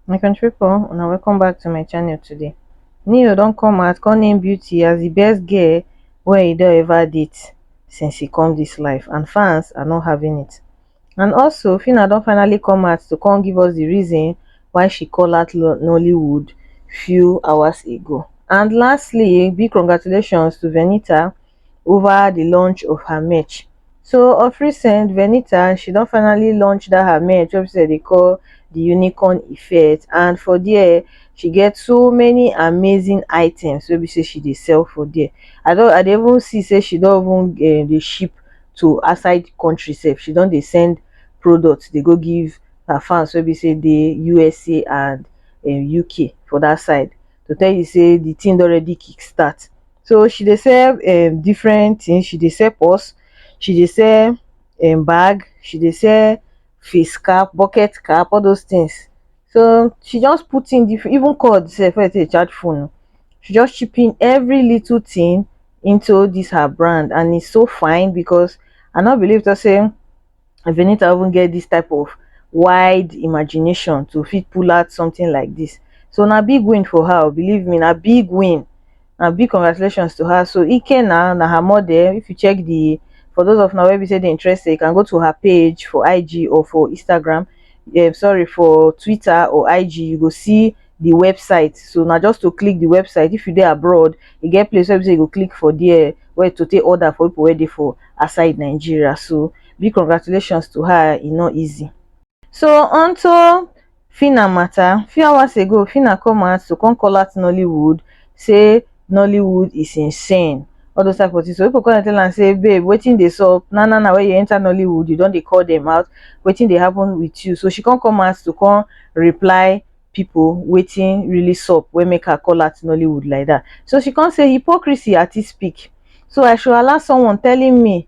my country people una welcome back to my channel today neo don come out come name beauty as the best girl wey e don ever date since he come this life and fans are not having it and also phyna don finally come out to come give us di reason why she call out nollywood few hours ago and lastly big congratulations to venita ova di launch of her merch so of recent venita she don finally launch dat her merch wey be say dem dey call di unicorn effect and for dia she get so many amazing items wey be say she dey sell for dia i don i dey even see say she don even dey ship to outside the country sef she don dey send products dey go give her fans wey be say dey usa and um, uk for that side to tell you say the thing don already kick start so she dey sell um, different things she dey sell purse she dey sell um, bag she dey sell face cap bucket cap all those things So she just put in the even called self as a charge phone. She just chip in every little thing into this her brand and it's so fine because I not believe to say Venita even get this type of wide imagination to fit pull out something like this. So now big win for her, believe me, now big win na big congratulations to her so ike na na her model if you check the for those of now where we say they interested you can go to her page for ig or for instagram um, sorry for twitter or ig you go see the website so now just to click the website if you there abroad you get place where you go click for there where to take order for people ready for aside nigeria so big congratulations to her e not easy so until Phyna matter, few hours ago Phyna come out to come call out Nollywood say Nollywood is insane all those type of things so people come tell am say babe wetin dey sup na na na wey you enter Nollywood you don dey call them out wetin dey happen with you so she come come out to come reply people wetin really sup wey make her call out Nollywood like that so she come say hypocrisy at its peak so I should allow someone telling me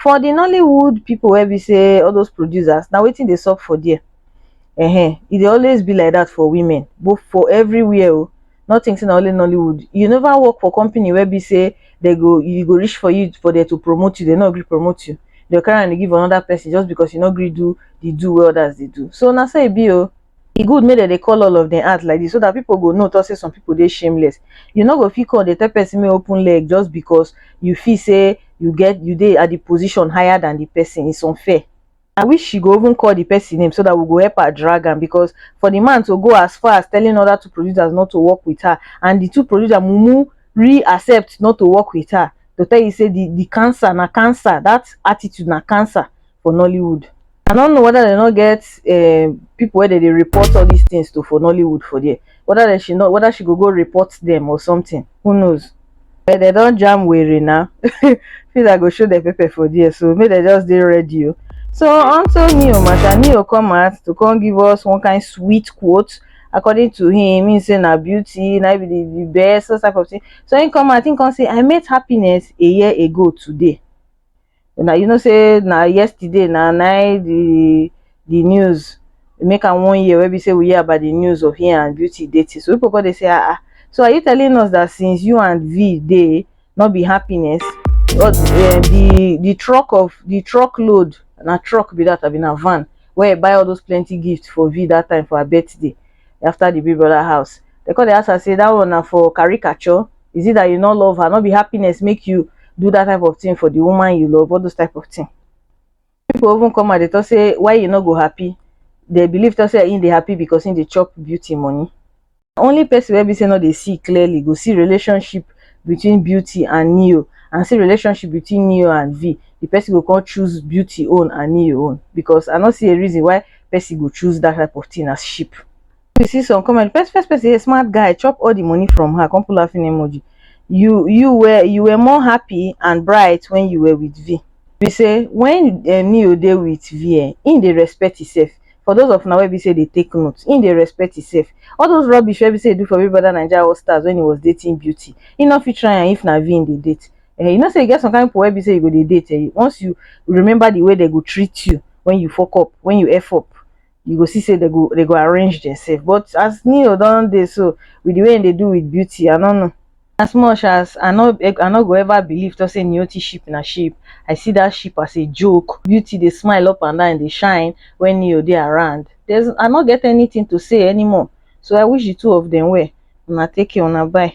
for the nollywood people wey be say all those producers na wetin dey sup for there uh-huh. e dey always be like that for women but for everywhere o oh, not think say na only nollywood you never work for company wey be say they go you go reach for you for there to promote you they no gree promote you they carry am dey give another person just because you no gree do the do wey others dey do so na so e be o. Oh. e good make dem dey call all of dem out like this so that people go know talk say some people dey shameless you no go fit come dey tell person make open leg just because you feel say you get you dey at the position higher than the person it's unfair i wish she go even call the person name so that we go help her drag am because for the man to go as far as telling other two producers not to work with her and the two producer mumu re-accept not to work with her to tell you say the the cancer na cancer that attitude na cancer for nollywood i no know whether they no get um, people where they dey report all these things to for nollywood for there whether they she not whether she go go report them or something who knows but they don't jam weary now feel i go show the paper for there so maybe they just dey ready o oh. so unto neo matter neo come out to come give us one kind sweet quote according to him he say na beauty na be the, the best those type of thing so he come out he come say i met happiness a year ago today na you know say na yesterday na nine the the news make am one year wey be say we hear about the news of him and beauty dating so people come dey say ah ah so are you telling us that since you and v dey no be happiness or uh, the the truck of the truck load na truck be that abi na van wey i buy all those plenty gifts for v that time for her birthday after the big brother house they come dey ask her say that one na for caricature is it that you no love her no be happiness make you do that type of thing for the woman you love all those type of thing people even come and they talk say why you no go happy they believe talk say him dey happy because him dey chop beauty money only person wey be say no dey see clearly go see relationship between beauty and neo and see relationship between neo and v the person go come choose beauty own and neo own because i no see a reason why person go choose that type of thing as sheep you see some comment first first person a smart guy chop all the money from her come put laughing emoji you you were you were more happy and bright when you were with v be say when eh, neo dey with v eh, him dey respect himself for those of now wey be say they take notes him dey respect himself all those rubbish wey be say he do for big brother naija all stars when he was dating beauty he no fit try am if na v him dey date eh, you know say you get some kind of people wey be say you go dey date eh, once you remember the way they go treat you when you fuck up when you f up you go see say they go they go arrange themselves but as neo don dey so with the way they do with beauty i no know as much as i no i no go ever believe to say neoti ship na ship i see that ship as a joke beauty dey smile up and down dey shine when neo dey around there's i no get anything to say anymore so i wish the two of them well una take care una bye